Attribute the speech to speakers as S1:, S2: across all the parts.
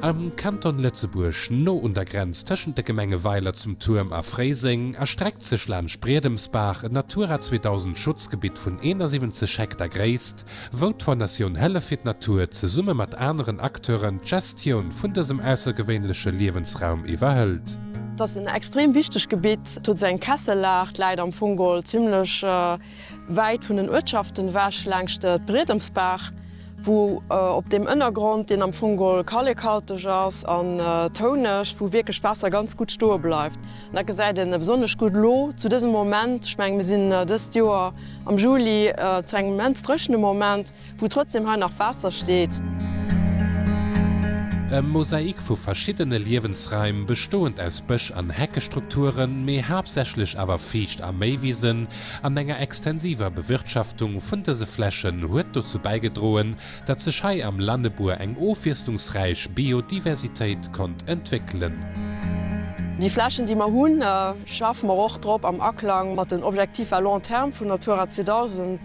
S1: Am Kanton Lëtzebuerg, no un der Grenz tëschent de Gemenge Weiler zum Tuerm a Fréiseng, erstreckt sech laanscht Briedemsbach en Natura 2000 Schutzgebitt vun 71 Hektar Gréisst, wou d'Fondatioun Hëllef fir d'Natur zesumme mat aneren Acteuren d'Gestioun vun dësem aussergewéinleche Liewensraum iwwerhëlt. Dass en
S2: extrem wichteg Gebitt, huet sou eng Kessellag, läit am Fong geholl zimlech. Wäit vun den Uertschaften ewech laangscht d'Briedems-Baach, wou op deem Ënnergrond, deen am Fong gol kallekhalteg ass an touneg, wou wierklech d'Waasser ganz gutt stoe bleift. An dat gesäit ee besonnesch gutt elo zu dësem Moment. Ech menge mir sinn dëst Joer am Juli zu engem immens dréchene Moment. Wou trotzdem hei nach Waasser steet.
S1: E Mosaik vu verschiddene Liewensraim, bestoend aus Bësch an Heckestrukturen, mee haaptsächlech awer Fiicht a Méiwisen, an enger extensiver Bewirtschaftung vun dëse Flächen huet dozou bäigedroen, datt sech hei am Lannebour eng ofwiesslungsräich Biodiversitéit konnt entwéckelen. Déi
S2: Flächen, déi mer hunn, schaffe mer och drop am Aklang mat den Objectifs à long terme vun Natura 2000.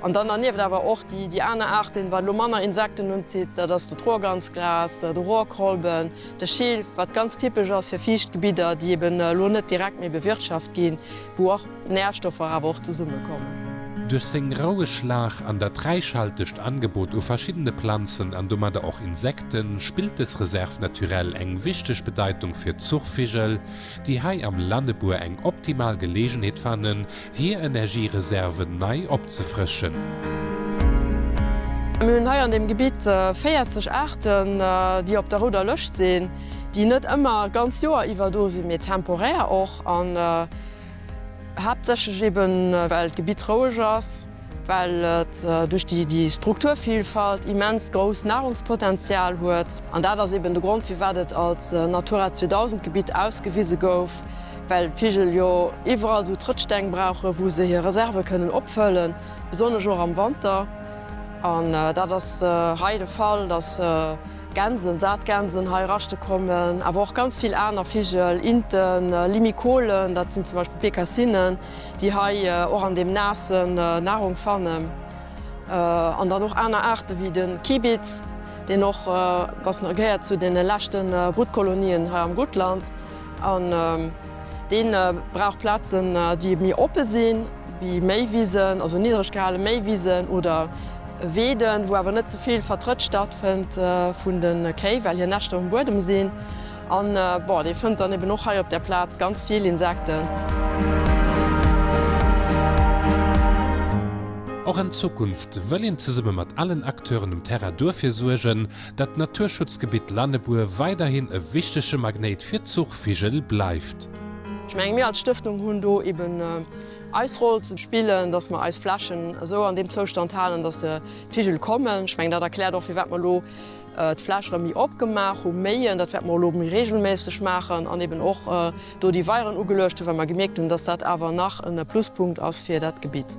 S2: An dann dernieft awer och déi aner Aarten, wat elo manner Insekten unzitt, dat ass de Troerganzgras, de Rohrkolben, de Schilf, wat ganz typesch ass fir fiicht Gebidder, déi eben elo net direkt méi bewirtschaft ginn, wou och Nährstoffer awer och zesummekommen. Duerch seng
S1: roueg Lag an dat räichhaltegt Angebot u verschiddene Planzen an domadder och Insekten, spillt dës Réserve naturelle eng wichteg Bedeitung fir d'Zuchvigel, déi hei am Lannebuer eng optimal Geleegenheet fannen, hir Energiereserven nei opzefrëschen.
S2: Mir hunn hei an deem Gebitt 40 Aarten, déi op der rouder Lëscht sinn, déi net ëmmer d'ganz Joer iwwer do sinn, mee temporär och an haaptsächlech eben, well d'Gebitt roueg ass, well et duerch déi Strukturvilfalt immens grousst Nahrungspotenzial huet. An dat ass eben de Grond, firwat et als Natura 2000 Gebitt ausgewise gouf. Well d'Vigel jo iwwerall esou Trëttsteng brauchen, wou se hir Reserve kënnen opfëllen, besonnesch och am Wanter. An dat ass hei de Fall, dass Gänsen, Saatgänsen, hei raschte kommen, awer och ganz vill aner Vigel, Inten, Limikolen, dat sinn zum Beispill Bekassinnen, déi hei och an deem Naassen Nahrung fannen. An dann och aner Aarte wéi de Kibitz, deen och, dass gehéiert zu deene leschte Brutkolonien hei am Guttland. An dee brauch Plazen, déi méi oppe sinn, wéi méi Wisen, also niddreg gehale méi Wisen oder Weeden, wou awer net ze vill Vertrëtt stattfënnt vun de Kéi, well hir Näschter um Buedem sinn. An bon, dee fënnt dann eben och hei op där Plaz ganz vill Insekten.
S1: Och an Zukunft wëll een zesumme mat allen Acteuren um Terrain duerfir suergen, dat d'Naturschutzgebitt Lannebuer weiderhin e wichtege Magnéit fir d'Zuchvigel bleift. Ech mengen, mir als
S2: Stëftung hunn do eben eis Roll ze spillen, dass mer eis Flächen esou an deem Zoustand halen, dass d'Vigel kommen. Ech mengen, dat erkläert och, firwat mer elo d'Fläch erëm méi opgemaach hu méien. Dat wäerte mer elo méi reegelméisseg maachen an eben och, do déi Weieren ugeluecht hunn, well mer gemierkt hunn, dass dat awer nach e Pluspunkt ass fir dat Gebitt.